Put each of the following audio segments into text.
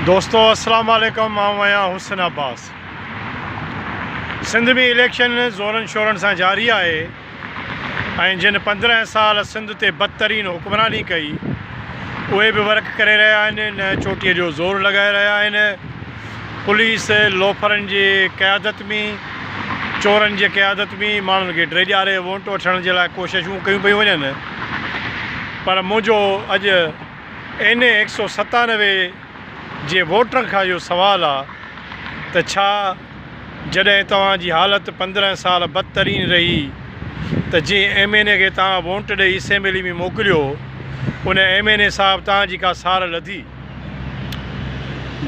دوستو السلام عليڪم آئون آهيان حسن عباس سنڌ ۾ اليڪشن زورن شورن سان جاري آهي ۽ جن پندرهن سال سنڌ تي بدترين حڪمراني ڪئي اهي به ورڪ ڪري رهيا آهن نه چوٽي جو زور لڳائي رهيا آهن پوليس لوفرن جي قيادت ۾ چورن جي قيادت ۾ ماڻهن کي ڊيڄاري ووٽ وٺڻ جي لاء ڪوششون ڪيون پيون وڃن پر منهنجو اڄ اين اي هڪ سؤ ستانوي جي ووٽرن کان اهو سوال آ ته ڇا جڏهن توهان جي حالت پندرهن سال بدترين رهي ته جنهن ايم اين اي کي توهان وونٽ ڏئي اسيمبلي ۾ موڪليو ان ايم اين اي صاحب توهان جي ڪا سار لڌي؟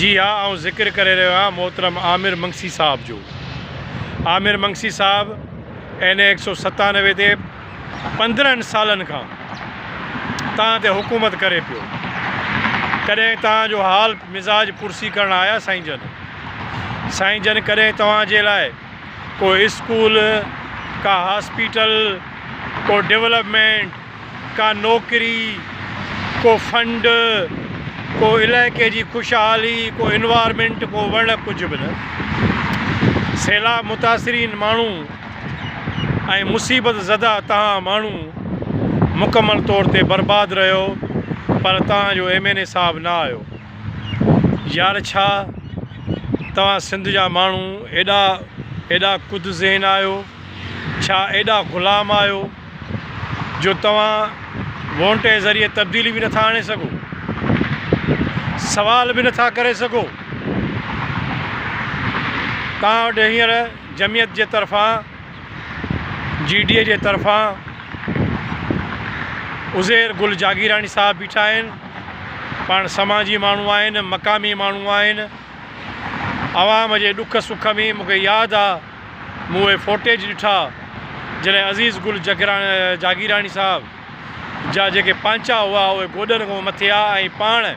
جي ها آئون ذڪر ڪري رهيو آهيان محترم عامر منگسي صاحب جو عامر منگسي صاحب اين اي هڪ سؤ ستانوي تي پندرهن سالن کان توهان تي حڪومت ڪري پيو ڪڏهن توهان جو حال مزاج پرسي ڪرڻ آيا سائين جن سائين جن ڪڏهن توهان جي لاء ڪو اسڪول ڪا هاسپيٽل ڪو ڊولپمينٽ ڪا نوڪري ڪو فنڊ ڪو علائقي جي خوشحالي ڪو انوارمينٽ ڪو وڻ ڪجهه به نه سيلاب متاثرين ماڻهو ۽ مصيبت زده توهان ماڻهو مڪمل طور تي برباد رهيو پر توهان جو ايم اين اي صاحب نه آيو يار ڇا توهان سنڌ جا ماڻهو ايڏا ايڏا ڪد ذهن آهيو ڇا ايڏا غلام آهيو جو توهان وونٽ جي ذريعي تبديلي به نٿا آڻي سگهو سوال به نٿا ڪري سگهو توهان وٽ هينئر جمعيت جي طرفان جي ڊي اي جي طرفان عزير گل جاگيراڻي صاحب بيٺا آهن پاڻ سماجي ماڻهو آهن مقامي ماڻهو آهن عوام جي ڏک سک ۾ مون کي ياد آ مون اهي فوٽيج ڏٺا جڏهن عزيز گل جاگيراڻي صاحب جا جيڪي پانچا هئا اهي گوڏن کان مٿي آ ۽ پاڻ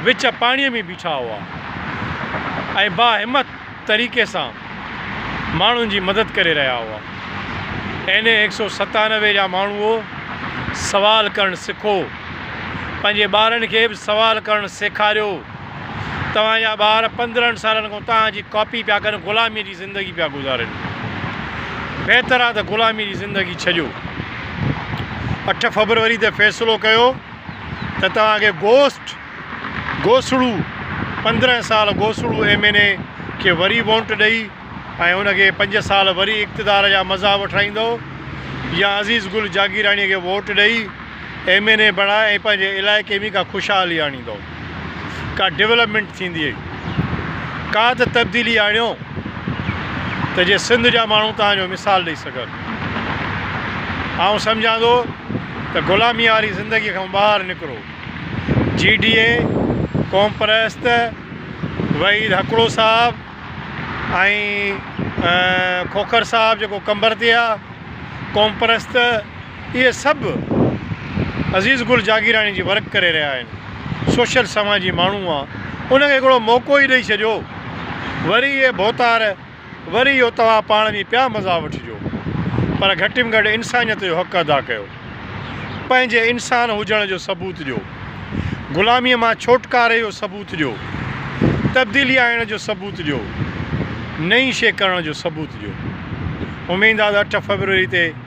وچ پاڻيء ۾ بيٺا هئا ۽ باهمت طريقي سان ماڻهن جي مدد ڪري رهيا هئا. اين اي هڪ سؤ ستانوي جا ماڻهوء! سوال ڪرڻ سکو. پنهنجي ٻارن کي به سوال ڪرڻ سيکاريو. توهان جا ٻار پندرهن سالن کان توهان جي ڪاپي پيا ڪن، غلاميء جي زندگي پيا گذارين. بهتر آهي ته غلاميء جي زندگي ڇڏيو. اٺ فبروري تي فيصلو ڪيو. ته توهان کي گوسٽ گوسڙو پندرهن سال گوسڙو ايم اين اي کي وري وونٽ ڏئي ۽ ان کي پنج سال وري اقتدار جا مزا وٺرائيندو يا عزيز گل جاگيراڻي کي ووٽ ڏئي ايم اين اي بڻائي ۽ پنهنجي علائقي ۾ ڪا خوشحالي آڻيندو. ڪا ڊولپمينٽ ٿيندي ۽ ڪا ته تبديلي آڻيو ته جي سنڌ جا ماڻهو توهان جو مثال ڏئي سگهن. آئون سمجهان ٿو ته غلامي واري زندگي کان ٻاهر نڪرو. جي ڊي اي، قوم پرست، وحيد هڪڙو صاحب ۽ کوکر صاحب جيڪو قمبر تي آ، قوم پرست، اهي سڀ عزيز گل جاگيراڻي جي ورڪ ڪري رهيا آهن سوشل سماجي ماڻهو آ ان کي هڪڙو موقعو ئي ڏئي ڇڏيو وري اهي ڀوتار وري اهو توهان پاڻ ۾ پيا مزا وٺجو پر گهٽ م گهٽ انسانيت جو حق ادا ڪيو پنهنجي انسان هجڻ جو ثبوت ڏيو غلامي مان ڇوٽڪاري جو ثبوت ڏيو تبديلي آڻڻ جو ثبوت ڏيو نئين شي ڪرڻ جو ثبوت ڏيو اميد آ ته اٺ فيبروري تي